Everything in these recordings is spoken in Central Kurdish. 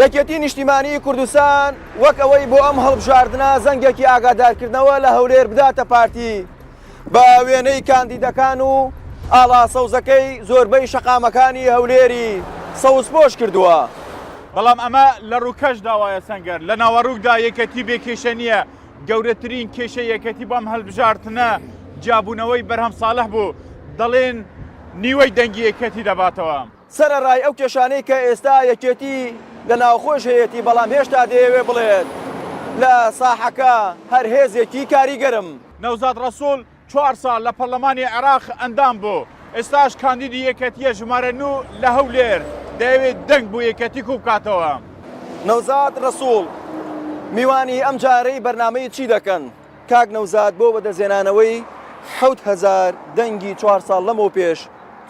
یەکێتی نیشتیمانیی کوردستان وەک ئەوەی بۆ ئەم هەڵبژاردنە زەنگێکی ئاگادارکردنەوە لە هەولێر بداتە پارتی بە وێنەی کاندیدەکان و ئاڵا سەوزەکەی زۆربەی شەقامەکانی هەولێری سەوزپۆش کردووە. بەڵام ئەمە لە ڕووکەشدا وایە سەنگەر لە ناوەڕووکدا یەکێتی بێ کێشە نییە، گەورەترین کێشەی یەکێتی بۆ ئەم هەلبژاردنە جیابوونەوەی بەرهەم ساڵح بوو، دەڵێن نیوەی دەنگی یەکێتی دەباتەوە. سەرەڕای ئەو کێشانەی کە ئێستا یەکێتی لە ناوخۆیش هەیەتی، بەڵام هێشتا دەیەوێت بڵێت لە ساحەکە هەر هێزێکی کاریگەرم. نەوزاد ڕەسوڵ چوار ساڵ لە پەڕڵەمانی عێراق ئەندام بوو، ئێستاش کاندیدی یەکێتییە ژمارە نۆ لە هەولێر، دەیەوێت دەنگ بۆ یەکێتی کووبکاتەوە. نەوزاد ڕەسوڵ، میوانی ئەمجارەی بەرنامەی چی دەکەن؟ کاک نەوزاد بۆ بەدەستهێنانەوەی حەوت هەزار دەنگی چوار ساڵ لەمەوپێش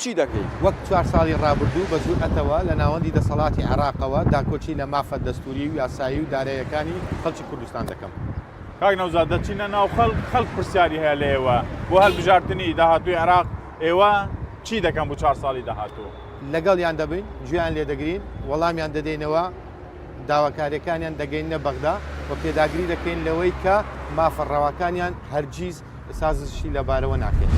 چی دەکەی؟ وەک چوار ساڵی ڕابردوو بە جورئەتەوە لە ناوەندی دەسەڵاتی عێراقەوە داکۆکی لە مافە دەستووری و یاسایی و داراییەکانی خەڵکی کوردستان دەکەم. کاک نەوزاد دەچینە ناو خەڵک، خەڵک پرسیاری هەیە لە ئێوە بۆ هەلبژاردنی داهاتووی عێراق، ئێوە چی دەکەن بۆ چوار ساڵی داهاتوو؟ لەگەڵیان دەبین، گوێیان لێدەگرین، وەڵامیان دەدەینەوە، داواکاریەکانیان دەگەیننە بەغدا و پێداگری دەکەین لەوەی کە مافە ڕەواکانیان هەرگیز سازشی لەبارەوە ناکەین.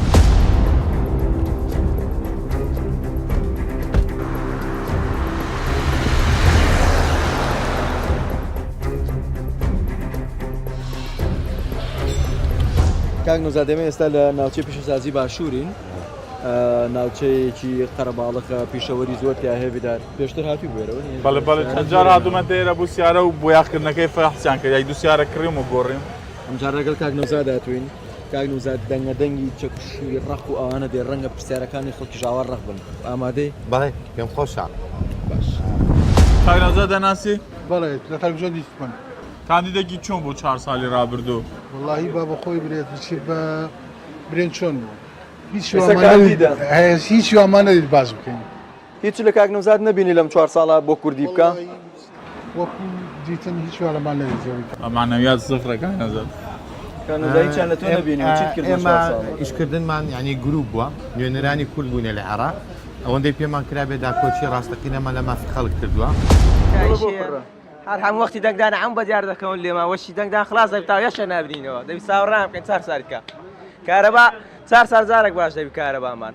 کاک نوزادێمە ئێستا لە ناوچەی پیشەسازی باشوورین ناوچەیەکی قەرەباڵەکە پیشەوەری زۆر تیا هەێبیدار پێشتر هاتی بێرەوە بەڵێ بەڵێ چەند جار هاتومە دێرە بوو سیارە و بۆیاخکردنەکەی فەحسیان کرد یای دو سیارە کڕیم و گۆڕیم ئەمجار ڕێگەل کاک نەوزاد هاتوین کاک نوزاد دەنگە دەنگی چەکوشی ڕق و ئەوانە دێ ڕەنگە پرسیارەکانی خەڵکی ژاوار ڕق بن ئامادەی بەڵێ پێم خۆشە باش کاک نەوزاد دەناسی بەڵێ لە کاک ژۆ دیست من کاندیدێکی چۆن بوو چهار ساڵی ڕابردوو وڵی با بە خۆی برێت بچی بە برێن چۆن بوو هیچ هیچ وامانە باز بکەین هیچ لە کاک نەوزاد نەبینی لەم چوار ساڵە بۆ کوردی بکا؟ وەکو دیتن هیچ وێڵەمان لە زەوی معنویات زفرە کاک نەوزاد. کاک نەوزاد هیچیان لە تۆ نەبینی و چیت کرد لەم چوار ساڵە؟ ئێمە ئیشکردنمان یانی گروپ بووە، نوێنەرانی کورد بووینە لە عێراق، ئەوەندەی پێمان کرابێ داکۆکی ڕاستەقینەمان لە مافی خەڵک کردووە. تکایە بۆ پڕە؟ هەر هەموو وەختی دەنگدان عەون بەدیار دەکەون لێمان وەشی دەنگدان خڵاس دەبی تاو یەکشە نابینینەوە دەبی چاوەڕێمان بکەین چار ساریت کا کارەبا چار سار جارەک باش دەبی کارەبامان.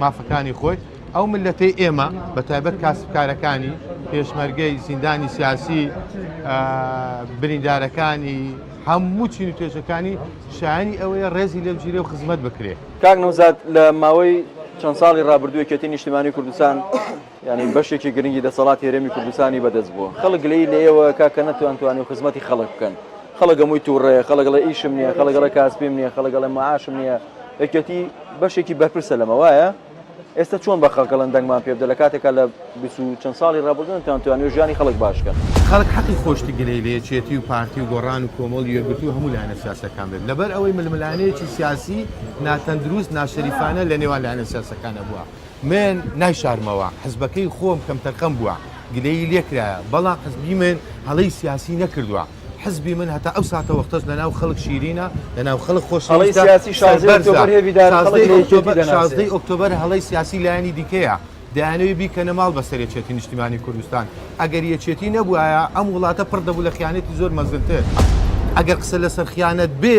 مافەکانی خۆی ئەو ملەتەی ئێمە بە تایبەت کاسبکارەکانی پێشمەرگەی زیندانی سیاسی بریندارەکانی هەموو چین و توێژەکانی شایانی ئەوەیە ڕێزی لێ بگیرێ و خزمەت بکرێ کاک نەوزاد لە ماوەی چەند ساڵی ڕابردووی کێتی نیشتمانی کوردستان یانی بەشێکی گرنگی دەسەڵات هێرێمی کوردستانی بەدەست بووە خەڵک گلەی لە ئێوە کاکە نەتوان توانی و خزمەتی خەڵک بکەن خەڵگەمووی تووڕێ خەڵگەڵە ئیشم نییە خەڵگەڵە کاسپیم نییە خەڵگەڵە معاشم نییە یەکێتی بەشێکی بەرپرسە لەمە وایە ئێستا چۆن بە خەڵگەڵن دەنگمان پێ بدە لە کاتێکا لە چەند ساڵی ڕابردن تان توانانی ژیانی خەڵک باشکەن خەڵک حەقی خۆشتی گلەی لە یەکێتی و پارتی و گۆڕان و کۆمەڵ یەکگرتو هەموو لایەنە سیاسەکان بێت لەبەر ئەوەی ململانێکی سیاسی ناتەندروست ناشەریفانە لە نێوان لایەنە سیاسەکانە بووە. من نایشارمەوە، حزبەکەی خۆم کەمتەرخەم بووە، گلەیی لێکرایە، بەڵام حزبی من هەڵەی سیاسی نەکردووە، حزبی من هەتا ئەو ساتەوەختەش لەناو خەڵک شیرینە، لەناو خەڵک خۆشەویستە، سەربەرزە، شازدەی ئۆکتۆبەر هەڵەی سیاسی لایەنی دیکەیە، دەیانەوێت بیکەنە ماڵ بەسەر یەکێتی نیشتیمانی کوردستان، ئەگەر یەکێتی نەبوایە ئەم وڵاتە پڕ دەبوو لە خیانەتی زۆر مەزنتر، ئەگەر قسە لەسەر خیانەت بێ،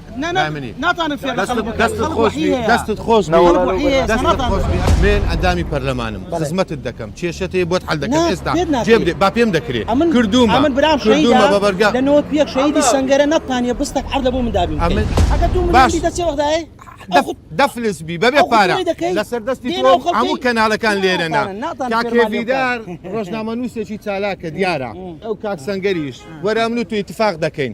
لای منی دەستت خۆشبی دەستت خۆشبی من ئەندامی پەرلەمانم خزمەتت دەکەم کێشەت هەیە بۆت حل دەکەم ئێستا جێ بدەیت با پێم دەکرێت کردووم من برام کردوومە بە بەرگا لەنەوە پێک شەیدی سەنگەرە نەتانە بستەک عەردە بۆ من دابین باش دەچێ وەختایە دەفلس بی بەبێ پارە لەسەر دەستی هەموو کەناڵەکان لێرەنا کاکێویدار ڕۆژنامە نووسێکی چالاکە دیارە ئەو کاک سەنگەریش وەراملو توی تفاق دەکەین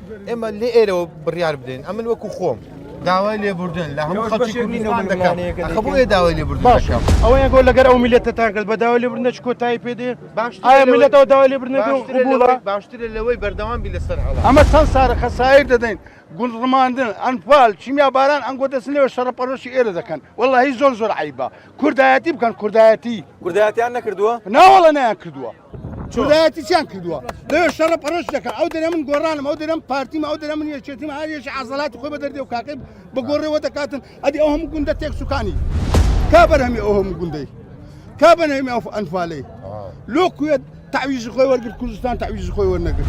ئێمە لێ ئێرەوە بڕیار بدەین ئەمن وەکو خۆم داوای لێبوردن لە هەموو خەڵکی کوردستان دەکەم خەبووێ داوای لێبوردن باشم ئەوەیان گۆ لەگەر ئەو میلەتتان کرد بە داوای لێبوردن نەچ کۆتایی پێدێ باش ئایا میلەتەوە داوای لێبوردن بووڵە باشترە لەوەی بەردەوام بی لەسەر هەڵە ئەمە چەند سارە خەسایر دەدەین گوند ڕماندن ئەنفال چیمیا باران ئەنگۆ دەستنەوە شەڕە پەرۆشی ئێرە دەکەن والله هی زۆر زۆر عیبە کوردایەتی بکەن کوردایەتی کوردایەتیان نەکردووە ناوەڵە نەیان کردووە چۆلایەتی چیان کردووە لەوێ شەڕە پەرش دەکە ئەو دەێ من گۆڕانم ئەو دەێم پارتیمە ئەو دەێ من یەکێتیم هاریێکی ئازڵاتی خۆی بە دەردێ و کاکەی بە گۆڕێەوە دەکاتن ئەدی ئەو هەموو گوندە تێک سوکانی کا بەرهەمی ئەو هەموو گوندەی کا بەنەمی ئەو ئەنفالەی لۆ کوێت تعویزی خۆی وەرگر کوردستان تعویزی خۆی وەرنەگر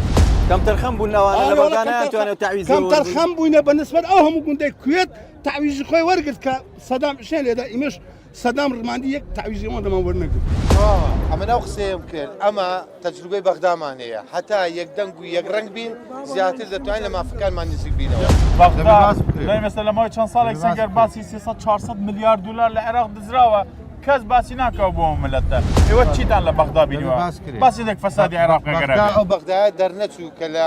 کەمتەرخەم بوون ئەوانەوانەتوانێت تعویز کەمتەرخەم بووینە بە نسبەت ئەو هەموو گوندەی کوێت تعویزی خۆی وەرگرت کە سەدام شێن لێدا ئیمەش سەدام ڕماندی یەک تەعویزی ئەوان لەمان وەرنەگرت. ها ئەمن ئەو قسەیەم کرد ئەمە تەجروبەی بەغدامان هەیە هەتا یەکدەنگ و یەکڕەنگ بین زیاتر دەتوانین لە مافەکانمان نزیک بینەوە. بەغدا دەی مەسە لە ماوەی چەند ساڵێک سەنگەر باسی سێ سەد چوار سەد ملیار دولار لە عێراق دزراوە کەس باسی ناکا بۆ ئەو ملەتە ئێوە چیتان لە بەغدا بینیوە باس نەک فەسادی عێراق ئەگەر ئەبێ. بەغدا ئەو بەغدایە دەرنەچوو کە لە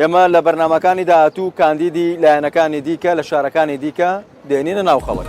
ئێمە لە بەرنامەکانی داهاتوو کاندیدی لایەنەکانی دیکە لە شارەکانی دیکە دێنینە ناو خەڵک.